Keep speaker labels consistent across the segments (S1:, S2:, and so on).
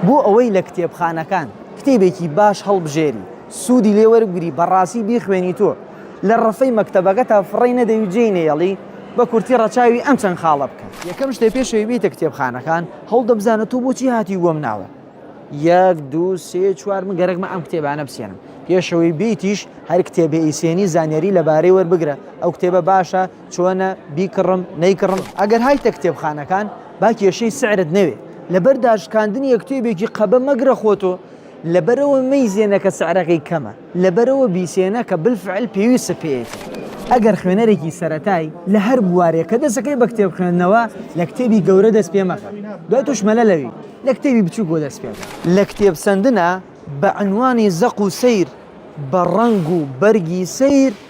S1: بۆ ئەوەی لە کتێبخانەکان کتێبێکی باش هەڵبژێری سودی لێ وەربگری بەڕاستی بیخوێنی تۆ لە ڕەفەی مەکتەبەکەتا فڕێی نەدەی و جێی نەیەڵی بە کورتی ڕەچاوی ئەم چەند خاڵە بکە. یەکەم شتێ پێش ئەوەی بێیتە کتێبخانەکان هەوڵدە بزانە تۆ بۆچی هاتی وەم ناوە یەک دوو سێ چوار من گەرەکمە ئەم کتێبانە بسێنم پێشەوەی بیتیش هەر کتێبێ ئیسێنی زانیاری لەبارەی وەربگرە ئەو کتێبە باشە چۆنە بیکڕم نەیکڕم ئەگەر هایتە کتێبخانەکان با کێشەی سعرت نەوێ لەبەر داشکاندنی یەکتێبێکی قەبە مەگرە خۆتۆ لەبەرەوە مەیزێنەکە سعرەکەی کەمە لەبەرەوە بیسێنە کە بالفعل پێویستە پێیەتی ئەگەر خوێنەرێکی سەتای لە هەر بوارێک کە دەسەکەی بە کتێب خوێندنەوە لە کتێبی گەورە دەست پێ مەکە دوای توشمەلە لەوی لە کتێبی بچوو بۆ دەست پێ لە کتێب سندنا بە عنوانی زەق و سیر بە ڕەنگ و بەرگی سیر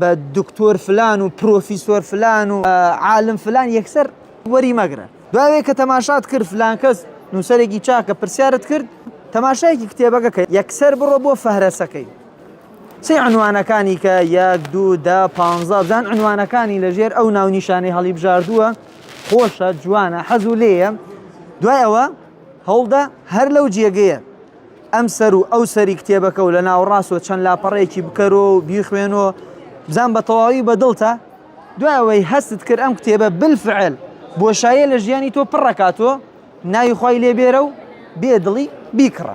S1: بە دکتۆر فلان و پرۆفیسۆر فلان و عالم فلان یەکسەر وەری مەگرە دواوێ کە تەماشات کرد فلان کەس نووسەرێکی چاکە پرسیارت کرد تەماشایەکی کتێبەکە کە یەکسەر بڕۆ بۆ فەهرەسەکەی چی عنوانەکانی کە یەک دوو دا پ بزان عنوانەکانی لەژێر ئەو ناونیشانەی هەڵی بژاردووە خۆشە جوانە حەزوو لێە دوای ئەوە هەوڵدە هەر لەو جێگەیە ئەم سەر و ئەو سەری کتێبەکە و لە ناوەڕاست و چەند لاپەڕەیەکی بکەرۆ و بیخوێنۆ بزان بە تەواوی بە دڵتە دوای ئەوەی هەستت کرد ئەم کتێبە بالفعل بۆشاییە لە ژیانی تۆ پڕەکاتۆ ناوی خوای لێبێرە و بێ دڵی بیکڕە.